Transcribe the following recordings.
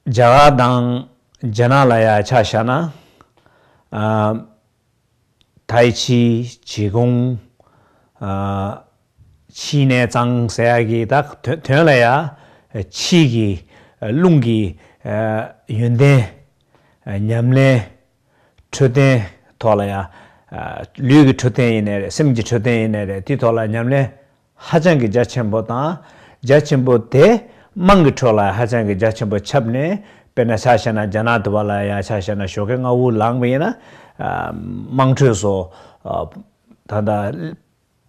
རྒྱ་གར་དང་རྒྱ་ནག་ལ་ཡ་ཆ་བཞག་ན། ཐའི་ཆི་བྱེས་གོང། ཕྱིས་ནས་གཙང་སེལ་གྱི་དོན་ལ་ཡ། ཕྱིས་ཀྱི་རླུང་གི་ཡོན་ཏན། ཉམས་ལེན་འཕྲོད་བསྟེན་ཐོག་ལ་ཡ། ལུས་ཀྱི་འཕྲོད་བསྟེན་ཡེ་ནས་རེད་སེམས་ཀྱི་འཕྲོད་བསྟེན་ཡེ་ནས་རེད་དེའི་ཐོག་ལ་ཉམས་ལེན་ཧ་ཅང་གི་རྒྱ་ཆེན་པོ་དང། རྒྱ་ཆེན་པོ་དེ་དམངས་ཀྱི་ཁྲོད་ལ་ཧ་ཅང་གི་རྒྱ་ཆེན་པོ་ཁྱབ་ནས། དཔེར་ན་ཆ་བྱས་ན་རྒྱ་ནག་དུ་བ་ལ་ཡང་ཆ་བྱས་ན་ཞོ་གས་རྔ་བོ་ལངས་པ་ཡིན་ན། དམངས་ཁྲོད་སོ། ད་ལྟ།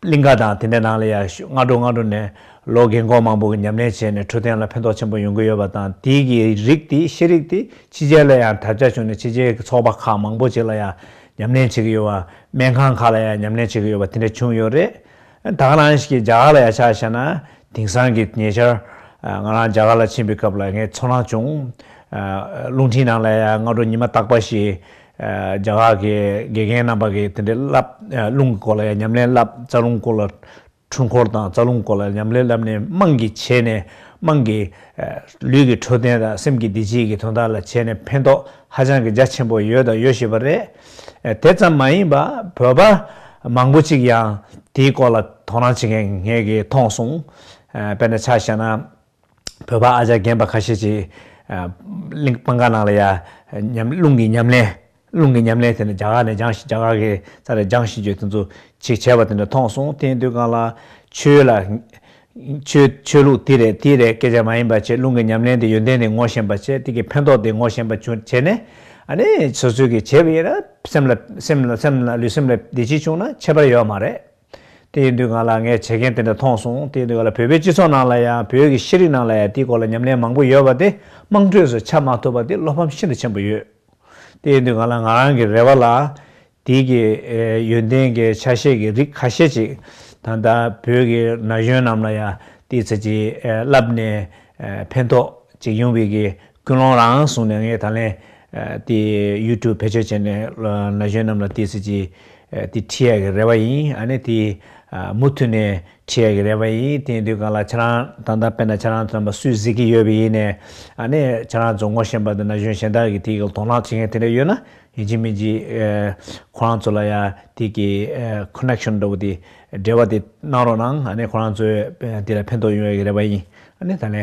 གླིང་ག་དང་དེ་འདྲའི་ནང་ལ་ཡང་སྔ་དྲོ་སྔ་དྲོ་ནས་ལོ་རྒན་གོག་མང་པོ་གི་ཉམས་ལེན་བྱས་ནས་འཕྲོད་བསྟེན་ལ་ཕན་ཐོགས་ཆེན་པོ་ཡོང་གི་ཡོད་པ་དང་དེའི་གི་རིགས་དེ་ཤེས་རིག་དེ་ཕྱི་རྒྱལ་ལ་ཡང་དར་ཁྱབ་བྱུང་ནས་ཕྱི་རྒྱལ་གི་ཚོགས་པ་ཁག་མང་པོ་ཅིག་ལ་ཡང་ཉམས་ལེན་བྱེད་ཀྱི་ཡོད་པ། སྨན་ཁང་ཁག་ལ་ཡང་ཉམས་ལེན་བྱེད་ཀྱི་ཡོད་པ་དེ་འདྲ་བྱུང་ཡོད་རེད། བདག་རང་གིས་རྒྱ་གར་ལ་ཡར་ཕྱག་བྱས་ན་དེང་སང་གི་ཉེ་ཆར། ང་རང་རྒྱ་གར་ལ་ཕྱིན་པའི་སྐབས་ལ་ངའི་ཚོར་སྣང་བྱུང། རླུང་འཕྲིན་ནང་ལ་ཡང་སྔ་དྲོ་ཉི་མ་རྟག་པ་ཞིག། རྒྱ་གར་གྱི་དགེ་རྒན་རྣམ་པ་གིས་དེ་འདྲའི་བསླབ། རླུང་གི་སྐོར་ལ་ཡང་ཉམས་ལེན་བསླབ་རྩ་རླུང་སྐོར་ལ། འཁྲུལ་འཁོར་དང་རྩ་རླུང་སྐོར་ལ་ཉམས་ལེན་བསླབ་ནས་དམངས་ཀྱི་བྱས་ནས་དམངས་ཀྱི། ལུས་ཀྱི་འཕྲོད་བསྟེན་དང་སེམས་ཀྱི་བདེ་སྐྱིད་ཀྱི་དོན་དག་ལ་བྱས་ནས་ཕན་ཐོགས་ཧ་ཅང་གི་རྒྱ་ཆེན་པོ་ཡོད་དང་ཡོད་བཞིན་པ་རེད། དེ་ཙམ་མ་ཡིན་པར་བོད་པ་མང་པོ་ཅིག་ཡང་དེའི་སྐོར་ལ་དོ་སྣང་བྱེད་མཁན་ངེད་ཀྱིས་མཐོང་སོང། དཔེར་ན་ཆ་བཞག་ན། བོད་པ་ཨ་ཅག་རྒན་པ་ཁ་ཤས་ཀྱིས་གླིང་སྤང་ཁང་ནང་ལ་ཡང་རླུང་གི་ཉམས་ལེན་རླུང་གི་ཉམས་ལེན་དེ་འདྲ་རྒྱ་གར་ནས་སྦྱངས་ཤིག་རྒྱ་གར་གྱི་རྩ་རེ་སྦྱངས་ཤིག་ཅེས་དེ་ཚོ་ཅིག་བྱས་པ་དེ་འདྲ་མཐོང་སོང་དེའི་དུས་སྒང་ལ་ཆོས་ལ་ཆོས་ལུགས་དེ་རེད་དེ་རེད་སྐད་ཆ་མ་ཡིན་པ་བྱེད་རླུང་གི་ཉམས་ལེན་དེ་ཡོན་ཏན་དེ་ངོ་ཤེས་པ་བྱེད་དེ་གི་ཕན་ཐོག་དེ་ངོ་ཤེས་པ་བྱེད་ནས་ཨ་ནི་སོ་སོའི་གི་བྱེད་པ་ཡིན་ན་སེམས་ལ་སེམས་ལ་སེམས་ལ་ལུས་སེམས་ལ་བདེ་སྐྱིད་བྱུང་ན་ཁྱད་པར་ཡོད་མ་རེད་དེ་ཡིན་དུས་ང་ལ་ངས་བྱེད་མཁན་དེ་འདྲ་མཐོང་སོང་དེ་ཡིན་དུས་ང་ལ་བོད་པའི་སྤྱི་ཚོགས་ནང་ལ་ཡང་བོད་ཀྱི་ཤེས་རིག་ནང་ལ་ཡང་དེའི་སྐོར་ལ་ཉམས་ལེན་མང་པོ་ཡོད་པ་དེ་དམངས་ཁྲོད་སུ་ཆགས་མ་ཐུབ་པ་དེ་བློ་ཕམ་ཤིན་ཏུ་ཆེན་པོ་ཡོད་དེ་ཡིན་དུས་ང་ལ་ང་རང་གི་རེ་བ་ལ་དེའི་གི་ཡོན་ཏན་གི་ཆ་ཤས་ཀྱི་རིགས་ཁ་ཤས་ཅིག་ད་ལྟ་བོད་ཀྱི་ན་གཞོན་རྣམས་ལ་ཡང་དེའི་ཚད་ཀྱིས་བསླབས་ནས་ཕན་ཐོགས་ཅིག་ཡོང་བའི་གི་ཀུན་སློང་རང་བཟུང་ནས་ངས་ད་ལན་དེ YouTube བེད་སྤྱོད་བྱས་ནས་ན་གཞོན་རྣམས་ལ་དེའི་ཚད་ཀྱིས་དེ་ཁྲིད་ཡ་གི་རེ་བ་ཡིན་ཨ་ནི་དེ་མུ་མཐུད་ནས་ཁྲིད་ཡ་གི་རེ་བ་ཡིན་དེའི་དུས་གང་ལ་ཁྱེད་རང་ད་ལྟ་བལྟས་ན་ཁྱེད་རང་ཚོ་རྣམས་པ་སུས་གཟིགས་ཀྱི་ཡོད་པ་ཡིན་ནས་ཨ་ནི་ཁྱེད་རང་ཚོ་ངོ་ཤེས་པ་དང་ན་གཞོན་གཞན་དག་གི་དེའི་གི་དོ་སྣང་བྱེད་མཁན་དེ་འདྲ་ཡོད་ན། ཡིན་གཅིག་མིན་གཅིག་ཁོ་རང་ཚོ་ལ་ཡ་དེ་གི Connection འདྲ་བོ་དེ་འབྲེལ་བ་དེ་གནང་རོགས་གནང་ཨ་ནི་ཁོ་རང་ཚོའི་དེ་ལ་ཕན་ཐོགས་ཡོང་ཡག་གི་རེད་པ་ཡིན་ཨ་ནི་ད་ལན་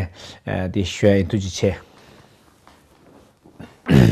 དེ་ཞུ་ཡག་ཡིན་ཐུགས་རྗེ་ཆེ།